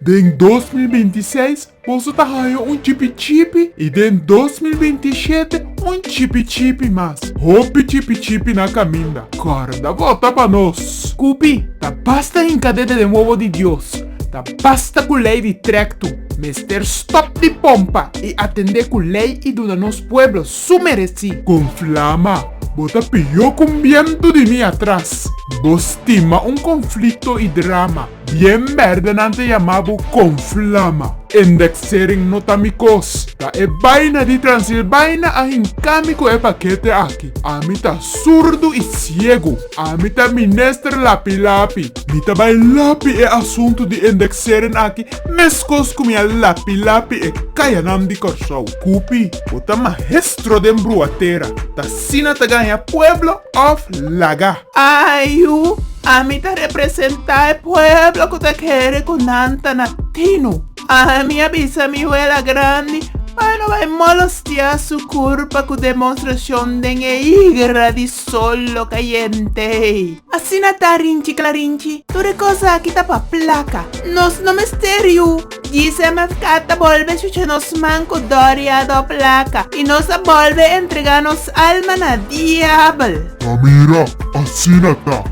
Den dos mil binti seis boso ta haña un chipi chipi i den dos mil binti shete un chipi chipi mas. Hopi chipi chipi na kaminda. Kòrda vota pa nos. Kupi, ta basta hinka dede den wowo di Dios. Ta basta ku lei di trèktu. Mester stòp di pompa i atendé ku lei i duna nos pueblo su meresí. Kon flama, bo ta pió ku un bientu di mi atras. Bo stima un konflikto i drama. Bien berde nan ta yama bo con flama. Indexering no ta mi cos. Ta e baina di Transilbaina a hinca mi cu e paquete aki. Ami ta surdo y ciego. Ami ta minister lapi lapi. Mi ta bay lapi e asunto di indexering aki mescos cu mi a lapi lapi e cayanan di Corsou. Cupi, bo ta mahestro den bruatera. Ta asina ta ganja pueblo of laga. Ayu, ami ta representá e pueblo ku ta kere ku nan ta na tinu. Ami a bisa mi wela grandi pa e no bai molostiá su kurpa ku demonstrashon den e igra di sol lo kayente ei. Asina ta, Rinchi Klarinchi, tur e kos aki ta pa plaka. Nos no mester yu. Djise Mascat a bolbe chucha nos man cu doria do placa, y nos a bolbe entrega nos alma na diabel. Ta mira, asina ta.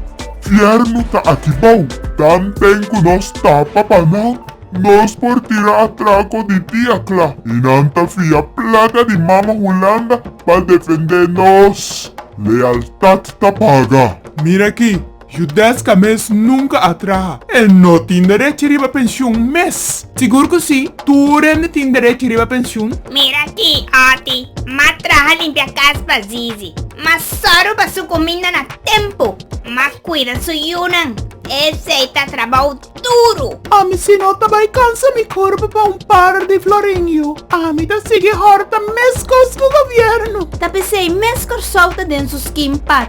Fiernu ta aki bao, tan ten cu nos tapa pa nan. Nos por tira atraco di dia cla, y nan ta fia placa di mama Hulanda pa defende nos. Lealtad ta paga. Mira aki. Judesca mes nunca a traha. E no tin derechi riba pensioen mes. Sigur cu si, tur hende tin derechi riba pensioen. Mira aki, Otty, m'a traha limpia cas pa Zizi. M'a sorgo pa su cuminda na tempo. M'a cuida su yunan. Esey ta trabao duro. Ami si no ta bay cansa mi corpo pa un par di florinio. Ami ta sigui horta mes cos cu gobierno. Ta p'esey mes Corsou ta den su scheme pa.